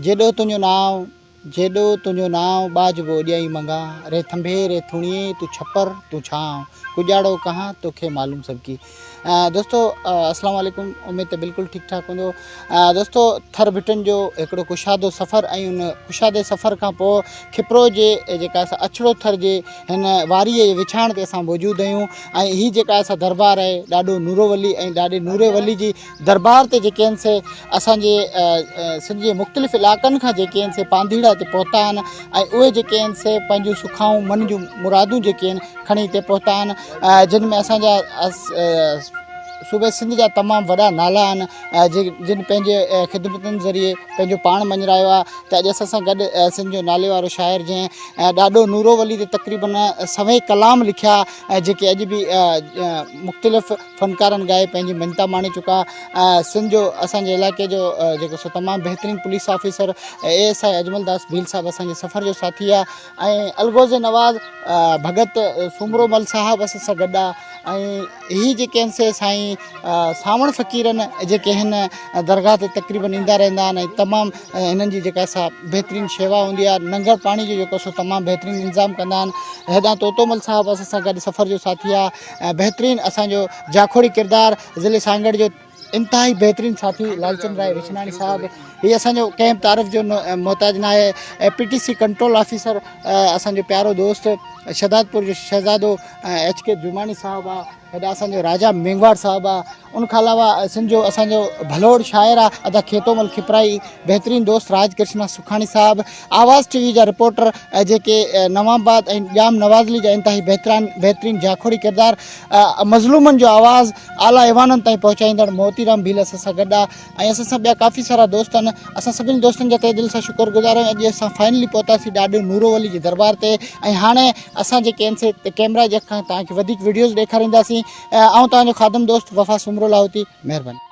جيڏو تنهنجو نانء، جيڏو تنهنجو نانء، ٻاجهبو ڏيئي منگان، ري ٿنڀي، ري ٿوڻيي، تون ڇپر، تون ڇانء، ڪڄاڙو ڪهان، توکي معلوم سڀڪي. دوستو السلام عليڪم اميد ته بلڪل ٺيڪ ٺاڪ هوندو دوستو ٿر ڀٽن جو هڪڙو ڪشادو سفر ۽ ان ڪشادي سفر کان پوء کپرو جي جيڪا اسان اڇڙو ٿر جي هن واري جي وڇاڻ تي اسان موجود آهيون ۽ هي جيڪا اسان دربار آهي ڏاڏو نورو ولي ۽ ڏاڏي نوري ولي جي درٻار تي جيڪي آهن سي اسان جي سنڌ جي مختلف علائقن کان جيڪي آهن سي پانڌيئڙا هتي پهتا آهن ۽ اهي جيڪي آهن سي پنهنجون سکائون من جون مرادون جيڪي آهن کڻي هتي پهتا آهن جن ۾ اسان جا صوبي سنڌ جا تمام وڏا نالا آهن جن پنهنجي خدمتن ذريعي پنهنجو پاڻ مڃرايو آهي ته اڄ اسان سان گڏ سنڌ جو نالي وارو شاعر جنهن ڏاڏو نورو ولي تي تقريبن سوين ڪلام لکيا جيڪي اڄ به مختلف فنڪارن ڳائي پنهنجي مڃتا ماڻي چڪا سنڌ جو اسان جي علائقي جو جيڪو سو تمام بهترين police officer A S I Ajmal Das Bheel صاحب اسان جي سفر جو ساٿي آهي ۽ الغوز نواز ڀڳت سومرو مل صاحب اسان سان گڏ آهي ۽ هي جيڪي آهن سي سائين ساوڻ فقيرن جيڪي هن درگاهه تي تقريبن ايندا رهندا آهن ۽ تمام هنن جي جيڪا سا بهترين شيوا هوندي آهي ننگر پاڻي جو جيڪو سو تمام بهترين انتظام ڪندا آهن هيڏانهن طوطو مل صاحب اسان سان گڏ سفر جو ساٿي آهي بهترين اسان جو جاکوڙي ڪردار ضلعي سانگهڙ جو انتهائي بهترين ساٿي لالچند راء وچناڻي صاحب هي اسان جو ڪنهن تعارف جو محتاج نه آهي ۽ P T C control officer اسان جو پيارو دوست شهدادپور جو شهزادو ايچ ڪي جماڻي صاحب آ هيڏا اسان جو راجا مينگهواڙ صاحب آ ان کان علاوه سنڌ جو اسان جو ڀلوڙ شاعر آ ادا کيتومل کپرائي بهترين دوست راج ڪرشنا سکاڻي صاحب آواز ٽي وي جا رپورٽر جيڪي نوامباد ۽ ڄام نوازلي جا انتهائي بهتران بهترين جاکوڙي ڪردار مظلومن جو آواز اعليٰ ايوانن تائين پهچائيندڙ موتي رام ڀيل اسان سان گڏ آ ۽ اسان سان ٻيا ڪافي سارا دوست آهن اسان سڀني دوستن جا تهه دل سان شڪر گذار آهيون اڄ اسان فائنلي پهتاسين ڏاڏو نورو ولي جي دربار تي ۽ هاڻي اسان جيڪي آهن سي ڪيمرا جي اک کان توهان کي وڌيڪ وڊيوز ڏيکارينداسين آئون توهان جو خادم دوست وفا سومرو لاهوتي مهرباني